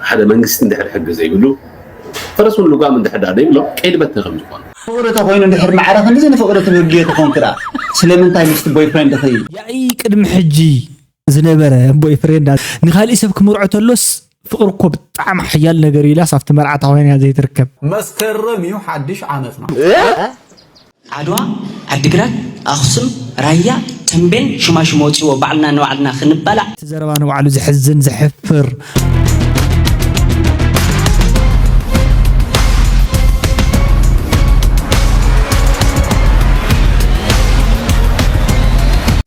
ሓደ መንግስቲ እንድሕር ሕጊ ዘይብሉ ፈረሱን ልጓም እንድሕር ደኣ ዘይብሎም ቀይዲ በትኒ ከም ዝኾኑ ፍቅሪ ተኮይኑ እንድሕር ማዕረ ክንድዚ ንፍቅሪ ትብህግዮ ተኮንኪ ደኣ ስለምንታይ ምስቲ ቦይፍሬንድኺ ያኢ ቅድሚ ሕጂ ዝነበረ ቦይፍሬንዳ ንካሊእ ሰብ ክምርዖ ተሎስ ፍቅሪ እኮ ብጣዕሚ ሓያል ነገር እዩ ኢላስ ኣብቲ መርዓታ ኮይና እያ ዘይትርከብ። መስከረም እዩ ሓድሽ ዓመትና። ዓድዋ፣ ዓዲግራት፣ ኣኽሱም፣ ራያ፣ ተምቤን ሽማሽም ወጺዎ ባዕልና ንባዕልና ክንባላዕ። እቲ ዘረባ ንባዕሉ ዘሕዝን ዘሕፍር።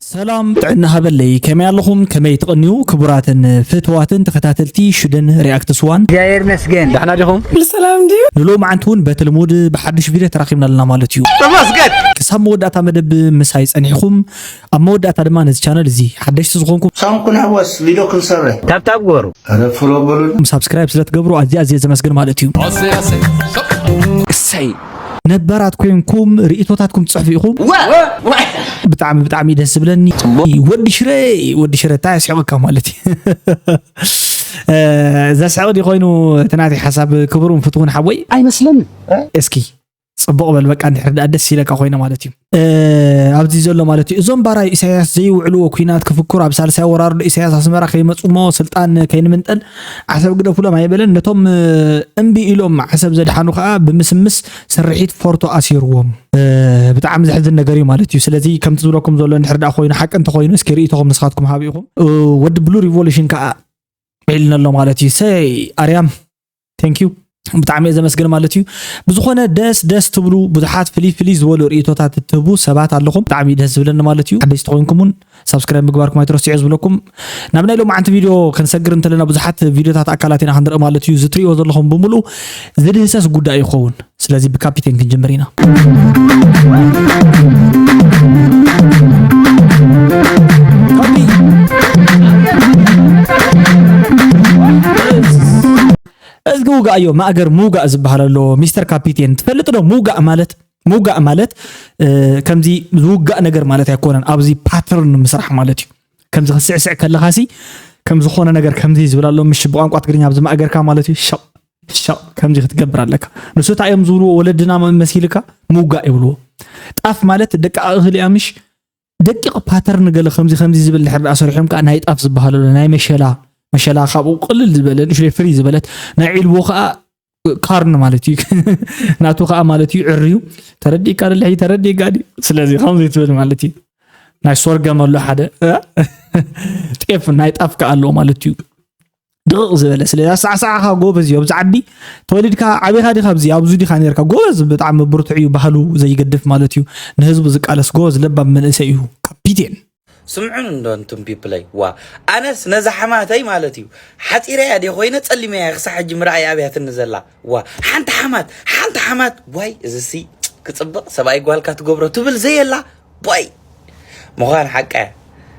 ሰላም ጥዕና ሃበለይ ከመይ ኣለኹም ከመይ ትቕንዩ ክቡራትን ፍትዋትን ተኸታተልቲ ሽደን ሪኣክትስ ዋን። እግዚኣብሔር ይመስገን ዳሕና ዲኹም? ኩሉ ሰላም ድዩ? ንሎምዓንቲ እውን በቲ ልሙድ ብሓዱሽ ቪድዮ ተራኺብና ኣለና ማለት እዩ። ተመስገን! ክሳብ መወዳእታ መደብ ምሳይ ጸኒሕኩም ኣብ መወዳእታ ድማ ነዚ ቻነል እዚ ሓደሽቲ ዝኾንኩም ሳም ኩንሕወስ ቪድዮ ክንሰርሕ ታብታብ ግበሩ። ኧረ ፍሎ በሉልና። ሳብስክራይብ ስለትገብሩ ኣዝየ ኣዝየ ዘመስግን ማለት እዩ። ኣሰይ ኣሰይ ሸቕ እሰይ ነባራት ኮይንኩም ርእቶታትኩም ትጽሕፉ ኢኹም ብጣዕሚ ብጣዕሚ ደስ ዝብለኒ ወዲ ሽረ ወዲ ሽረ እንታይ ኣስሕቐካ ማለት እዩ ዘስሕቕ ዲ ኮይኑ እቲ ናተይ ሓሳብ ክቡርን ፍትውን ሓወይ ኣይመስለኒ እስኪ ጽቡቕ በል በቃ እንድሕር ደኣ ደስ ኢለካ ኮይነ ማለት እዩ ኣብዚ ዘሎ ማለት እዩ እዞም ባራይ ኢሳያስ ዘይውዕልዎ ኩናት ክፍክሩ ኣብ ሳልሳይ ወራርዶ ኢሳያስ ኣስመራ ከይመፅሞ ስልጣን ከይንምንጠል ዓሰብ ግደፉሎም ኣይበለን ነቶም እምቢ ኢሎም ዓሰብ ዘድሓኑ ከዓ ብምስምስ ስርሒት ፎርቶ ኣሲርዎም ብጣዕሚ ዘሕዝን ነገር እዩ ማለት እዩ ስለዚ ከምቲ ዝብለኩም ዘሎ ንድሕር ዳ ኮይኑ ሓቂ እንተኮይኑ እስኪ ርእቶኹም ንስኻትኩም ሃብ ኢኹም ወዲ ብሉ ሪቮሉሽን ከዓ ዒልነሎ ማለት እዩ ሰይ ኣርያም ቴንኪዩ ብጣዕሚ እየ ዘመስግን ማለት እዩ ብዝኾነ ደስ ደስ ትብሉ ብዙሓት ፍልይ ፍልይ ዝበሉ ርእቶታት እትህቡ ሰባት ኣለኹም ብጣዕሚ እዩ ደስ ዝብለኒ ማለት እዩ ሓደሽቲ ኮይንኩም እውን ሳብስክራይብ ምግባርኩም ኣይትረስዑ ዝብለኩም ናብ ናይ ሎማዓንቲ ቪድዮ ክንሰግር እንተለና ብዙሓት ቪድዮታት ኣካላት ኢና ክንርኢ ማለት እዩ ዝትሪእዎ ዘለኹም ብምሉእ ዝድህሰስ ጉዳይ ይኸውን ስለዚ ብካፒቴን ክንጅምር ኢና። እዝጊ ውጋእ እዮ ማእገር ምውጋእ ዝበሃል ኣሎ ሚስተር ካፒቴን ትፈልጥ ዶ ምውጋእ ማለት ምውጋእ ማለት ከምዚ ዝውጋእ ነገር ማለት ኣይኮነን ኣብዚ ፓተርን ምስራሕ ማለት እዩ ከምዚ ክስዕስዕ ከለኻሲ ከም ዝኾነ ነገር ከምዚ ዝብል ኣሎ ምሽ ብቋንቋ ትግርኛ ኣብዚ ማእገርካ ማለት እዩ ሸቕ ሸቕ ከምዚ ክትገብር ኣለካ ንሱ እንታይ እዮም ዝብልዎ ወለድና መሲልካ ምውጋእ ይብልዎ ጣፍ ማለት ደቂ ኣእኽሊ ኣምሽ ደቂቕ ፓተርን ገለ ከምዚ ከምዚ ዝብል ድሕር ዳኣ ሰሪሖም ከዓ ናይ ጣፍ ዝበሃሉ ናይ መሸላ መሸላ ካብኡ ቅልል ዝበለ ንእሽተይ ፍሪ ዝበለት ናይ ዒልቦ ከዓ ካርን ማለት እዩ ናቱ ከዓ ማለት እዩ ዕርዩ ተረዲእካ ደልሒ ተረዲእካ ዲ ስለዚ ከምዚ ትብል ማለት እዩ ናይ ሶርገም ኣሎ ሓደ ጤፍ ናይ ጣፍ ከዓ ኣሎ ማለት እዩ ድቕቕ ዝበለ ስለ ኣሰዓሰዓኻ ጎበዝ እዩ ኣብዚ ዓዲ ተወሊድካ ዓቢኻ ዲኻ ኣብዚ ኣብዚ ዲኻ ነርካ ጎበዝ ብጣዕሚ ብርቱዕ እዩ ባህሉ ዘይገድፍ ማለት እዩ ንህዝቡ ዝቃለስ ጎበዝ ለባም መንእሰይ እዩ ካፒቴን ስምዑን እንዶ እንቱም ፒፕለይ ዋ ኣነስ ነዛ ሓማተይ ማለት እዩ ሓፂረያ ደ ኮይነ ፀሊመያ ክሳብ ሕጂ ምርኣይ ኣብያትኒ ዘላ ዋ ሓንቲ ሓማት ሓንቲ ሓማት ዋይ እዚሲ ክፅብቕ ሰብኣይ ጓልካ ትገብሮ ትብል ዘየላ ቦይ ምዃን ሓቃ እያ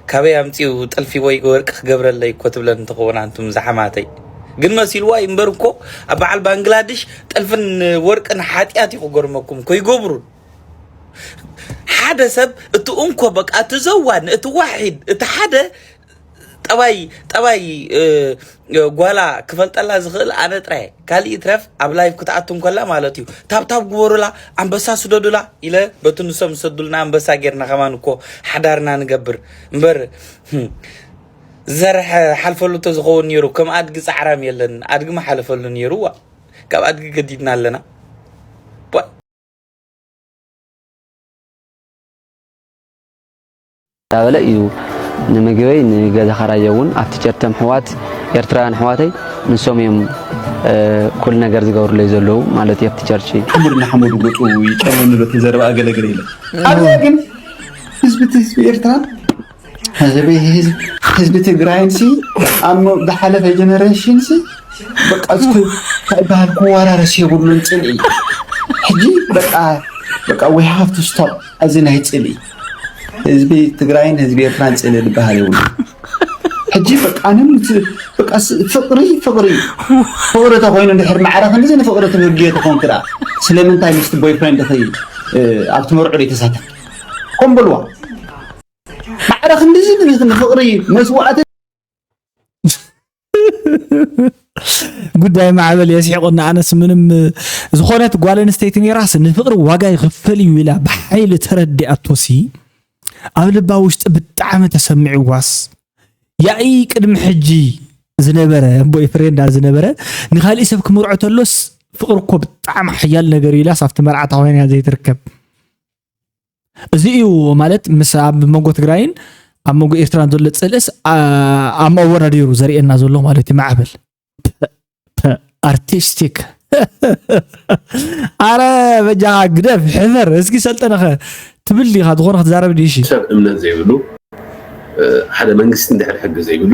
ካበይ ኣምጺኡ ጥልፊ ወይ ወርቂ ክገብረለይ እኮ ትብለን እንትኸውን ኣንቱም ዝሓማተይ ግን መሲልዋ እዩ እምበር እኮ ኣብ በዓል ባንግላድሽ ጥልፍን ወርቅን ሓጢኣት እዩ ክገርመኩም እኮ ይገብሩን ሓደ ሰብ እቲ እንኮ በቃ እቲ ዘዋን እቲ ዋሒድ እቲ ሓደ ጠባይ ጠባይ ጓላ ክፈልጠላ ዝኽእል ኣነ ጥራየ ካልእ ይትረፍ ኣብ ላይፍ ክትኣቱ እንከላ ማለት እዩ ታብታብ ግበሩላ ኣንበሳ ስደዱላ ኢለ በቲ ንሶም ዝሰዱልና ኣንበሳ ጌርና ከማን እኮ ሓዳርና ንገብር እምበር ዘርሐ ሓልፈሉ ተዝኸውን ነይሩ ከም ኣድጊ ፃዕራም የለን ኣድጊ መሓለፈሉ ነይሩ ዋ ካብ ኣድጊ ገዲድና ኣለና እንዳበለ እዩ ንምግበይ ንገዛ ከራዮ እውን ኣብቲ ጨርተም ኣሕዋት ኤርትራውያን ኣሕዋተይ ንሶም እዮም ኩሉ ነገር ዝገብሩለይ ዘለዉ ማለት እዩ ኣብቲ ቸርች ሓሙድ ንሓሙድ ጉጡ ይጨውንሉ እቲ ዘረባ ኣገለግለ ኢለ ኣብዛ ግን ህዝቢ ህዝቢ ኤርትራ ህዝቢ ህዝቢ ትግራይን ሲ ኣብ ዝሓለፈ ጀነሬሽን ሲ በቃ ዝበሃል ክወራረስ የብሉን ፅልኢ ሕጂ በቃ በቃ ዊ ሃቭ ቱ ስቶፕ እዚ ናይ ፅልኢ ህዝቢ ትግራይን ህዝቢ ኤርትራን ጽልኢ ዝበሃል የብሉን። ሕጂ በቃ ኣነም እቲ በቃ ስ- ፍቅሪ ፍቅሪ እዩ። ፍቅሪ ተኮይኑ እንድሕር ማዕረ ክንድዚ ንፍቅሪ ትብህግዮ ተኮንኪ ደኣ ስለምንታይ ምስቲ ቦይ ፍሬንድኺ እ፣ ኣብቲ መርዑ ዘይተሳተፍ ከም በልዋ ማዕረ ክንድዚ ንፍቅሪ መስዋእቲ ጉዳይ ማዕበል የስሒቆና ኣነስ ምንም ዝኾነት ጓል ኣንስተይቲ ነራስ ንፍቅሪ ዋጋ ይኽፈል እዩ ኢላ ብሓይሊ ተረዲኣቶሲ ኣብ ልባ ውሽጢ ብጣዕሚ ተሰሚዕዋስ ያኢ ቅድሚ ሕጂ ዝነበረ ኣቦይ ፍሬንዳ ዝነበረ ንካሊእ ሰብ ክምርዖ ተሎስ ፍቅሪ እኮ ብጣዕሚ ሓያል ነገር ኢላስ ኣብቲ መርዓታ ኮይና ዘይትርከብ እዚ እዩ ማለት ምስ ኣብ መንጎ ትግራይን ኣብ መንጎ ኤርትራን ዘሎ ፅልእስ ኣብ ኣወዳዲሩ ዘርእየና ዘሎ ማለት እዩ ማዕበል ኣርቲስቲክ ኣረ በጃ ግደፍ ሕፈር እስኪ ሰልጠነኸ ትብል ዲኻ ዝኾነ ክትዛረብ ዲሽ ሰብ እምነት ዘይብሉ ሓደ መንግስቲ እንድሕር ሕጊ ዘይብሉ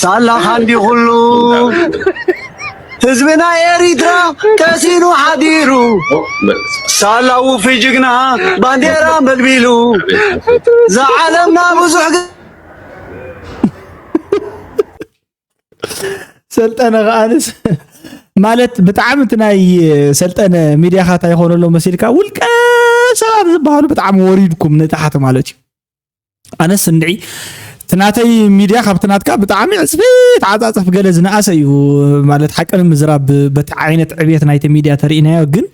ሳላኻ እንዲ ኩሉ ህዝብና ኤሪትራ ቀሲኑ ሓዲሩ ሳላ ውፊ ጅግና ባንዴራ መልቢሉ ዝዓለምና ብዙሕ ሰልጠነ ከኣንስ ማለት ብጣዕሚ እቲ ናይ ሰልጠነ ሚድያኻት ኣይኮነሎ መሲልካ ውልቀ ሰባት ዝበሃሉ ብጣዕሚ ወሪድኩም ንታሕቲ ማለት እዩ ኣነስ እንድዒ እቲ ናተይ ሚድያ ካብቲ ናትካ ብጣዕሚ ዕፅፊት ዓፃፅፍ ገለ ዝነኣሰ እዩ ማለት ሓቂ ንምዝራብ በቲ ዓይነት ዕብየት ናይቲ ሚድያ ተርእናዮ ግን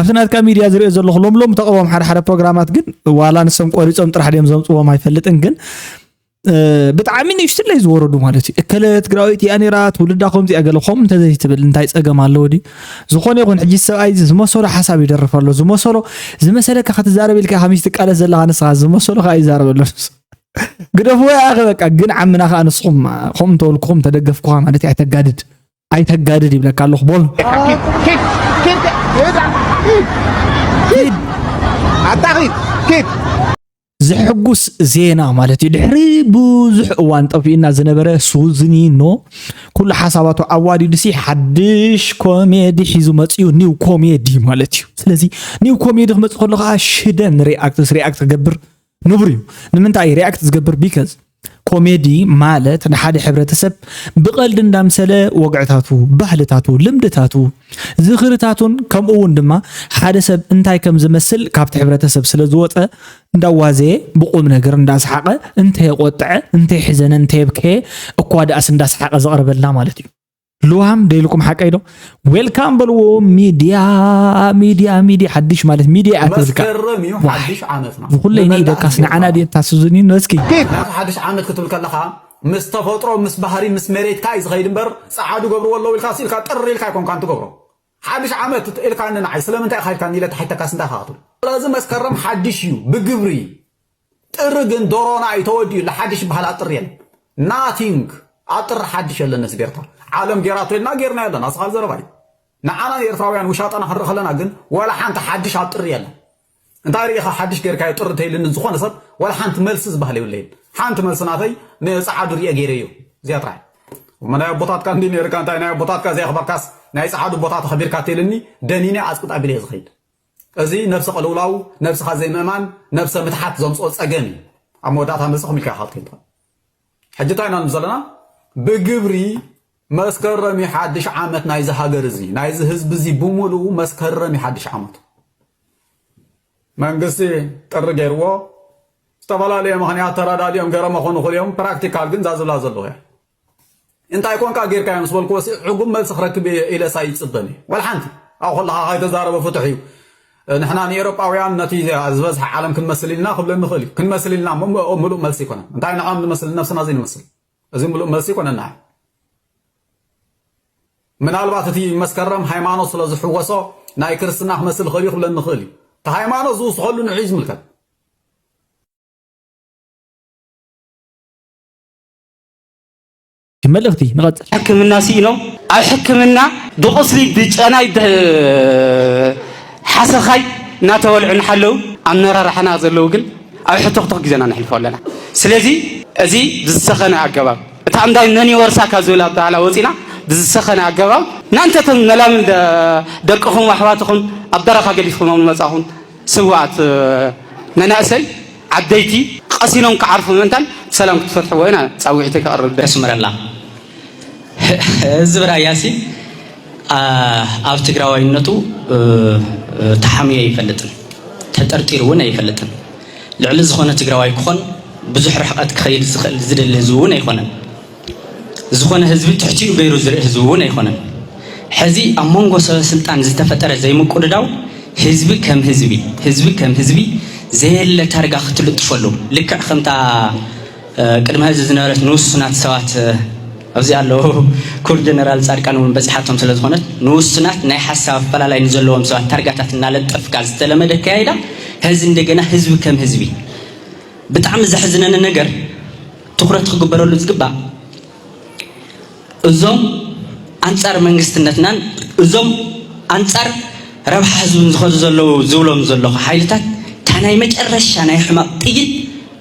ኣብቲ ናትካ ሚድያ ዝሪኦ ዘለኹ ሎም ሎም ተቐቦም ሓደ ሓደ ፕሮግራማት ግን ዋላ ንሶም ቆሪፆም ጥራሕ ድዮም ዘምፅዎም ኣይፈልጥን ግን ብጣዕሚ ንእሽትለይ ዝወረዱ ማለት እዩ እከለ ትግራወይቲ እያ ነይራ ትውልዳ ከምዚ እያ ገለ ከምኡ እንተዘይትብል እንታይ ፀገም ኣለዎ ድዩ ዝኾነ ይኹን ሕጂ እዚ ሰብኣይ እዚ ዝመሰሎ ሓሳብ ይደርፍ ኣሎ ዝመሰሎ ዝመሰለካ ክትዛረብ ኢልካ ከመይ ትቃለስ ዘለኻ ንስኻ ዝመሰሎ ከኣ ይዛረብ ኣሎ ግደፍዎ ያኸ በቃ ግን ዓምና ከኣ ንስኹም ከምኡ እንተበልኩኹም ተደገፍኩኻ ማለት እዩ ኣይተጋድድ ኣይተጋድድ ይብለካ ኣለኹ ቦል ኣታ ኪድ ዘሐጉስ ዜና ማለት እዩ ድሕሪ ብዙሕ እዋን ጠፊኡና ዝነበረ ሱዝኒኖ ኩሉ ሓሳባቱ ኣዋዲዱሲ ሓድሽ ኮሜዲ ሒዙ መፅኡ ኒው ኮሜዲ ማለት እዩ ስለዚ ኒው ኮሜዲ ክመፅ ከሎ ከዓ ሽደን ሪኣክትስ ሪኣክት ክገብር ንቡር እዩ ንምንታይ ሪኣክት ዝገብር ቢከዝ ኮሜዲ ማለት ንሓደ ሕብረተሰብ ብቐልዲ እንዳምሰለ ወግዕታቱ፣ ባህልታቱ፣ ልምድታቱ፣ ዝኽርታቱን ከምኡ እውን ድማ ሓደ ሰብ እንታይ ከም ዝመስል ካብቲ ሕብረተሰብ ስለ ዝወፀ እንዳዋዘየ ብቁም ነገር እንዳሰሓቐ እንተየቆጥዐ፣ እንተየሕዘነ፣ እንተየብከየ እኳ ደኣስ እንዳሰሓቐ ዘቕርበልና ማለት እዩ። ልዋም ዶ ኢልኩም ሓቀይ ዶ ዌልካም በልዎ ሚድያ ሚድያ ሚድያ ሓድሽ ማለት ሚድያ እያ ትብልካ መስከረም እዩ ሓድሽ ዓመትና ብኩለይ ንኢደካስ ንዓና ድየ ታስዙኒ ነስኪ ምክንያቱ ሓድሽ ዓመት ክትብል ከለካ ምስ ተፈጥሮ ምስ ባህሪ ምስ መሬትካ እዩ ዝኸይድ እምበር ፀዓዱ ገብርዎ ኣለዉ ኢልካ ስኢልካ ጥሪ ኢልካ ኣይኮንካን ትገብሮ ሓድሽ ዓመት እት ኢልካኒ ንዓይ ስለምንታይ ኢኻ ኢልካኒ ኢለ ተሓይተካስ እንታይ ኢኻ ክትብል። ስለዚ መስከረም ሓድሽ እዩ ብግብሪ ጥሪ ግን ዶሮና እዩ ተወዲኡ ኣሎ ሓድሽ ዝበሃል ኣብ ጥሪ የለን ናቲንግ ኣብ ጥሪ ሓድሽ የለን ህዝቢ ኤርትራ ዓለም ጌራቶ ኢልና ጌርናዮ ኣለና ስኻል ዘረባ እዩ ንዓና ንኤርትራውያን ውሻጠና ክንርኢ ከለና ግን ወላ ሓንቲ ሓድሽ ኣብ ጥሪ የለን እንታይ ሪኢኻ ሓድሽ ጌርካዮ ጥር ተይልኒ ዝኾነ ሰብ ዋላ ሓንቲ መልሲ ዝበሃል የብለይን ሓንቲ መልሲ ናተይ ንጸዓዱ ሪኤ ጌረዮ እዚኣ ጥራይ እሞ ናይ ኣቦታትካ እንዲ ነርካ እንታይ ናይ ኣቦታትካ ዘየኽበርካስ ናይ ጸዓዱ ቦታ ተኸቢርካ ተይልኒ ደኒነ ኣጽቅጥ ኣቢለ ዝኸይድ እዚ ነብሰ ቅልውላው ነብስኻ ዘይምእማን ነብሰ ምትሓት ዘምጽኦ ጸገም እዩ ኣብ መወዳእታ ምልሲ ክምልካ ይኻልከይንታ ሕጂ እንታይ ኢና ንብል ዘለና ብግብሪ መስከረም እዩ ሓድሽ ዓመት ናይዚ ሃገር እዚ ናይዚ ህዝቢ እዚ ብምሉኡ መስከረም እዩ ሓድሽ ዓመቱ መንግስቲ ጥሪ ገይርዎ ዝተፈላለየ ምክንያት ተረዳዲኦም ገረመ ኮኑ ክልኦም ፕራክቲካል ግን እዛ ዝብላ ዘለኹ እያ እንታይ ኮንካ ጌርካዮ ምስ በልክዎሲ ዕጉብ መልሲ ክረክብ እየ ኢለስ ኣይጽበን እየ ዋላ ሓንቲ ኣብኡ ከለኻ ከይተዛረበ ፍቱሕ እዩ ንሕና ንኤሮጳውያን ነቲ ዝበዝሐ ዓለም ክንመስል ኢልና ክብለኒ ይኽእል እዩ ክንመስል ኢልና ምሉእ መልሲ ኣይኮነን እንታይ ንዕኦም ንመስል ነብስና እዚ ንመስል እዚ ምሉእ መልሲ ይኮነ ንዓ ምናልባት እቲ መስከረም ሃይማኖት ስለ ዝሕወሶ ናይ ክርስትና ክመስል ይኽእል እዩ ክብለኒ ይኽእል እዩ እቲ ሃይማኖት ዝውስኸሉ ንዕኡ ዝምልከት መልእኽቲ ንቐፅል ሕክምና ስኢኖም ኣብ ሕክምና ብቑስሊ ብጨናይ ብሓሰኻይ እናተበልዑ እናሓለዉ ኣመራርሓና ዘለዉ ግን ኣብ ሕቶኽቶኽ ግዜ ኢና ነሕልፎ ኣለና ስለዚ እዚ ብዝሰኸነ ኣገባብ እታ እምዳይ መን ይወርሳ ካብ ዝብል ኣበሃላ ወፂና ብዝሰኸነ ኣገባብ ናንተቶም መላምን ደቅኹም ኣሕዋትኹም ኣብ በረኻ ገዲፍኹሞም ዝመፃኹም ስዋኣት መናእሰይ ዓደይቲ ቐሲኖም ክዓርፉ ምእንታን ብሰላም ክትፈትሕዎ ኢና ፃዊዒተይ ከቕርብ ደለኹ። የስምረልና ህዝብ ራያሲ ኣብ ትግራዋይነቱ ተሓምዩ ኣይፈልጥን ተጠርጢሩ እውን ኣይፈልጥን ልዕሊ ዝኾነ ትግራዋይ ክኾን ብዙሕ ርሕቐት ክኸይድ ዝኽእል ዝደሊ ህዝቢ እውን ኣይኾነን። ዝኾነ ህዝቢ ትሕቲኡ ገይሩ ዝርኢ ህዝቢ እውን ኣይኮነን። ሕዚ ኣብ መንጎ ሰበ ስልጣን ዝተፈጠረ ዘይምቁድዳው ህዝቢ ከም ህዝቢ ህዝቢ ከም ህዝቢ ዘየለ ታርጋ ክትልጥፈሉ ልክዕ ከምታ ቅድሚ ሕዚ ዝነበረት ንውሱናት ሰባት ኣብዚ ኣለዉ ኩር ጀነራል ፃድቃን እውን በፂሓቶም ስለ ዝኾነት ንውሱናት ናይ ሓሳብ ኣፈላላይ ንዘለዎም ሰባት ታርጋታት እናለጠፍካ ዝተለመደ ኣካያይዳ ሕዚ እንደገና ህዝቢ ከም ህዝቢ ብጣዕሚ ዘሕዝነኒ ነገር ትኹረት ክግበረሉ ዝግባእ እዞም ኣንፃር መንግስትነትናን እዞም ኣንፃር ረብሓ ህዝብን ዝኸዱ ዘለዉ ዝብሎም ዘለኹ ሓይልታት እታ ናይ መጨረሻ ናይ ሕማቕ ጥይት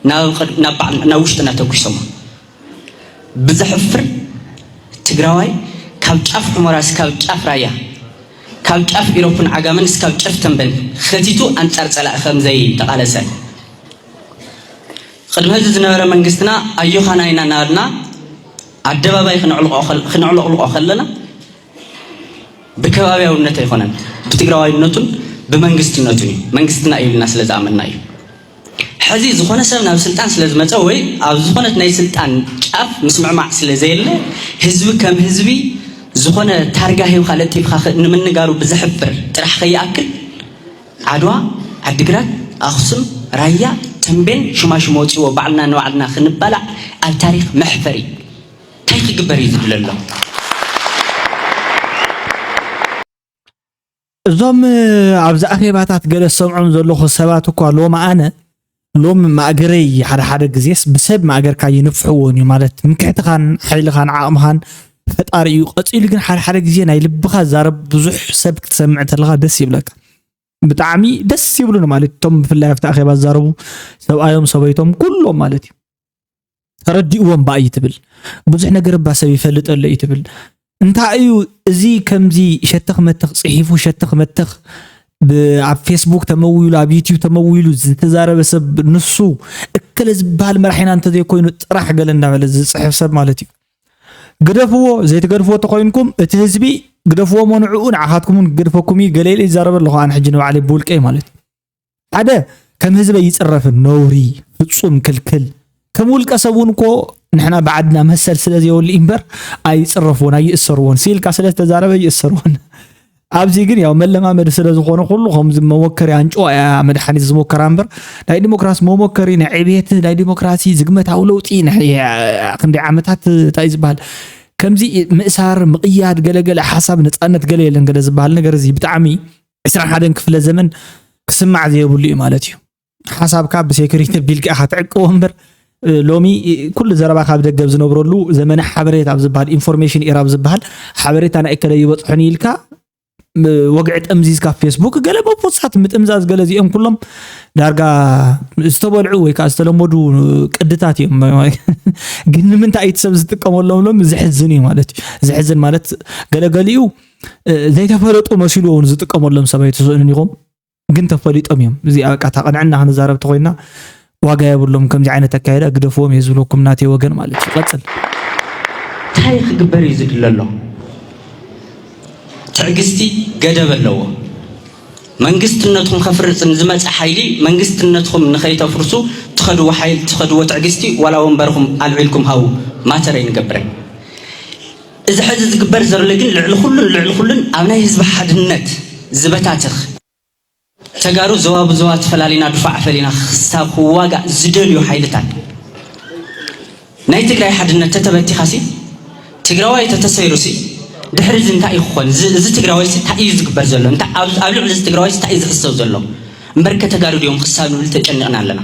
ናብ ውሽጥና ተጒሶሞ ብዘሕፍር ትግራዋይ ካብ ጫፍ ሑመራ እስካብ ጫፍ ራያ ካብ ጫፍ ኢሮፕን ዓጋመን እስካብ ጨፍ ተምበን ከቲቱ ኣንፃር ፀላኢ ከምዘይተቓለሰ ቕድሚ እዚ ዝነበረ መንግስትና ኣዮኻና ኢና እናበልና ኣደባባይ ክነዕለቕልቖ ከለና ብከባብያውነት ኣይኮነን ብትግራዋይነቱን ብመንግስትነቱን እዩ መንግስትና እዩ ኢልና ስለ ዝኣመንና እዩ ሕዚ ዝኾነ ሰብ ናብ ስልጣን ስለ ዝመፀ ወይ ኣብ ዝኾነት ናይ ስልጣን ጫፍ ምስምዕማዕ ስለ ዘየለ ህዝቢ ከም ህዝቢ ዝኾነ ታርጋ ሂብካ ለጢፍካ ንምንጋሩ ብዘሕፍር ጥራሕ ከይኣክል ዓድዋ፣ ዓዲግራት፣ ኣኽሱም፣ ራያ፣ ተምቤን ሹማሹም ወጺዎ ባዕልና ንባዕልና ክንባላዕ ኣብ ታሪኽ መሕፈሪ እዩ። ታይ ክግበር እዩ ዝድለሎ? እዞም ኣብዚ ኣኼባታት ገለ ዝሰምዖም ዘለኹ ሰባት እኳ ሎሚ ኣነ ሎሚ ማእገረይ ሓደ ሓደ ግዜስ ብሰብ ማእገርካ ኣይንፍሕዎን እዩ ማለት ትምክሕትኻን ሓይልኻን ዓቕምኻን ፈጣሪ እዩ ቀፂሉ ግን ሓደ ሓደ ግዜ ናይ ልብኻ ዝዛረብ ብዙሕ ሰብ ክትሰምዕ ተለኻ ደስ ይብለካ ብጣዕሚ ደስ ይብሉኒ ማለት እቶም ብፍላይ ኣብቲ ኣኼባ ዝዛረቡ ሰብኣዮም ሰበይቶም ኩሎም ማለት እዩ ተረዲእዎ እባ እዩ ትብል ብዙሕ ነገር እባ ሰብ ይፈልጥ ኣሎ እዩ ትብል እንታይ እዩ እዚ ከምዚ ሸተኽ መተኽ ጽሒፉ ሸተኽ መተኽ ኣብ ፌስቡክ ተመዊሉ ኣብ ዩቲዩብ ተመዊሉ ዝተዛረበ ሰብ ንሱ እከለ ዝበሃል መራሒና እንተዘይኮይኑ ጥራሕ ገለ እንዳበለ ዝፅሕፍ ሰብ ማለት እዩ ግደፍዎ ዘይትገድፍዎ ተኮይንኩም እቲ ህዝቢ ግደፍዎ መንዕኡ ንዓኻትኩምን ግድፈኩም እዩ ገለ ኢለ ይዛረበ ኣለኹ ኣነ ሕጂ ንባዕለይ ብውልቀይ ማለት እዩ ሓደ ከም ህዝበ ይጽረፍን ነውሪ ፍጹም ክልክል ከም ውልቀ ሰብ እውን እኮ ንሕና ብዓድና መሰል ስለ ዘይብሉ እምበር ኣይጽረፍዎን ኣይእሰርዎን ስኢልካ ስለ ዝተዛረበ ይእሰርዎን ኣብዚ ግን ያው መለማመዲ ስለ ዝኾነ ኩሉ ከምዚ መሞከሪ ኣንጮ እያ መድሓኒት ዝሞከራ እምበር ናይ ዲሞክራሲ መሞከሪ ናይ ዕብየት ናይ ዲሞክራሲ ዝግመታዊ ለውጢ ክንደይ ዓመታት እንታይ እዩ ዝበሃል ከምዚ ምእሳር ምቕያድ ገለገለ ሓሳብ ነፃነት ገለ የለን ገለ ዝበሃል ነገር እዚ ብጣዕሚ ዕስራን ሓደን ክፍለ ዘመን ክስማዕ ዘየብሉ እዩ ማለት እዩ ሓሳብካ ብሴኩሪቲ ቢልካ ኢኻ ትዕቅቦ እምበር ሎሚ ኩሉ ዘረባ ካብ ደገብ ዝነብረሉ ዘመነ ሓበሬታ ኣብ ዝበሃል ኢንፎርሜሽን ኤራ ኣብ ዝበሃል ሓበሬታ ናይ እከለ ይበፅሑኒ ኢልካ ወግዒ ጠምዚዝካ ፌስቡክ ገለ ቦፖሳት ምጥምዛዝ ገለ እዚኦም ኩሎም ዳርጋ ዝተበልዑ ወይ ከዓ ዝተለመዱ ቅድታት እዮም ግን ንምንታይ እቲ ሰብ ዝጥቀመሎም ሎም ዘሕዝን እዩ ማለት እዩ ዘሕዝን ማለት ገለገሊኡ ዘይተፈለጡ መሲሉ እውን ዝጥቀመሎም ሰብ ኣይትስእኑን ኢኹም ግን ተፈሊጦም እዮም እዚ በቃ ተቕንዕና ክንዛረብ ተኮይና ዋጋ የብሎም ከምዚ ዓይነት ኣካየዳ ግደፍዎም እየ ዝብለኩም ናተይ ወገን ማለት እዩ ቀፅል እንታይ ክግበር እዩ ዝድለ ኣሎ ትዕግስቲ ገደብ ኣለዎ መንግስትነትኩም ከፍርፅ ንዝመፀ ሓይሊ መንግስትነትኩም ንኸይተፍርሱ ትኸድዎ ሓይል ትኸድዎ ትዕግስቲ ዋላ ወንበርኹም ኣልዒልኩም ሃው ማተር ኣይንገብረን እዚ ሐዚ ዝግበር ዘሎ ግን ልዕሊ ኹሉን ልዕሊ ኹሉን ኣብ ናይ ህዝቢ ሓድነት ዝበታትኽ፣ ተጋሩ ዞባ ብዞባ ተፈላሊና ዱፋዕ ፈሊና ክሳብ ክዋጋእ ዝደልዩ ሓይልታት ናይ ትግራይ ሓድነት ተተበቲኻሲ ትግራዋይ ተተሰይሩሲ ድሕሪ እዚ እንታይ እዩ ክኾን? እዚ ትግራዋይሲ እንታይ እዩ ዝግበር ዘሎ? ኣብ ልዕሊ እዚ ትግራዋይሲ እንታይ እዩ ዝሕሰብ ዘሎ? እምበርከ ተጋሩ ድዮም ክሳብ ንብል ተጨኒቕና ኣለና።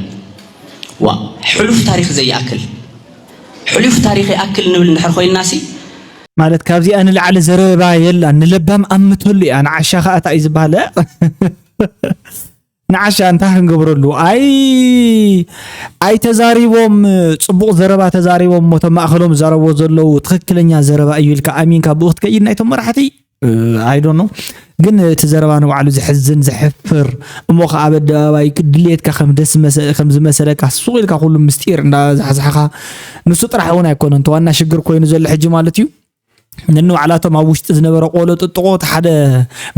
ዋ ሕሉፍ ታሪክ ዘይኣክል ሕሉፍ ታሪኽ ይኣክል ንብል እንድሕር ኮይንናሲ። ማለት ካብዚኣ ንላዕሊ ዘረባ የላን ንለባም ኣምተሉ እያ ንዓሻ ከኣ ታይ እዩ ዝብሃል ኣእ ንዓሻ እንታይ ክንገብረሉ ኣይ ኣይ ተዛሪቦም ጽቡቕ ዘረባ ተዛሪቦም እሞ እቶም ማእከሎም ዝዛረብዎ ዘለዉ ትኽክለኛ ዘረባ እዩ ኢልካ ኣሚንካ ብኡ ክትከይድ ናይቶም መራሕቲ ኣይዶ ኖ ግን እቲ ዘረባ ንባዕሉ ዘሕዝን ዘሕፍር እሞ ከዓ ኣብ ኣደባባይ ድልየትካ ከም ደስ ከም ዝመሰለካ ሱቅ ኢልካ ኩሉ ምስጢር እንዳዛሕዛሕካ ንሱ ጥራሕ እውን ኣይኮነን እቲ ዋና ሽግር ኮይኑ ዘሎ ሕጂ ማለት እዩ ንንባዕላቶም ኣብ ውሽጢ ዝነበረ ቆሎ ጥጥቆ እቲ ሓደ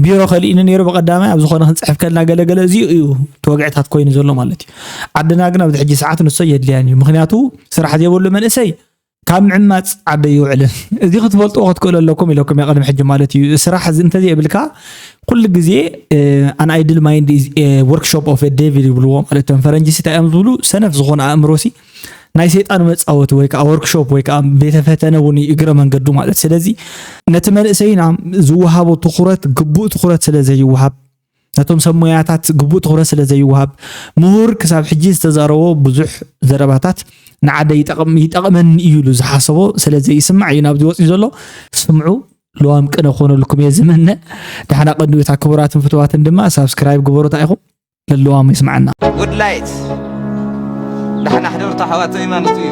ቢሮ ከሊእኒ ነይሩ ብቀዳማይ ኣብ ዝኾነ ክንፅሕፍ ከልና ገለገለ እዚ እዩ እቲ ወግዕታት ኮይኑ ዘሎ ማለት እዩ ዓድና ግን ኣብዚ ሕጂ ሰዓት ንሶ የድልያን እዩ ምክንያቱ ስራሕ ዘይብሉ መንእሰይ ካብ ምዕማጽ ዓዲ ኣይውዕልን እዚ ክትፈልጥዎ ክትክእሉ ኣለኩም ኢለኩም እየ ቅድሚ ሕጂ ማለት እዩ ስራሕ እዚ እንተዘይብልካ ኩሉ ግዜ ኣን ኣይድል ማይንድ ወርክሾፕ ኦፍ ዴቪል ይብልዎ ማለት እቶም ፈረንጂ ሲ እንታይ እዮም ዝብሉ ሰነፍ ዝኾነ ኣእምሮ ሲ ናይ ሰይጣን መፃወቲ ወይ ከዓ ወርክሾፕ ወይ ከዓ ቤተ ፈተነ እውን እዩ እግረ መንገዱ ማለት ስለዚ ነቲ መንእሰይና ዝወሃቦ ትኩረት ግቡእ ትኩረት ስለ ዘይወሃብ ነቶም ሰብ ሞያታት ግቡእ ትኹረት ስለ ዘይወሃብ ምሁር ክሳብ ሕጂ ዝተዛረቦ ብዙሕ ዘረባታት ንዓደ ይጠቕመኒ እዩ ኢሉ ዝሓሰቦ ስለ ዘይስማዕ እዩ ናብዚ ወፅዩ ዘሎ ስምዑ ለዋም ቅነ ክኾነልኩም እየ ዝምነ ዳሕና ቀንዩታ ክቡራትን ፍትዋትን ድማ ሳብስክራይብ ግበሩታ ኢኹም ለለዋም ይስምዓና ጉድላይት ዳሕና ሕደርታ ኣሕዋት ዘይማኖት እዩ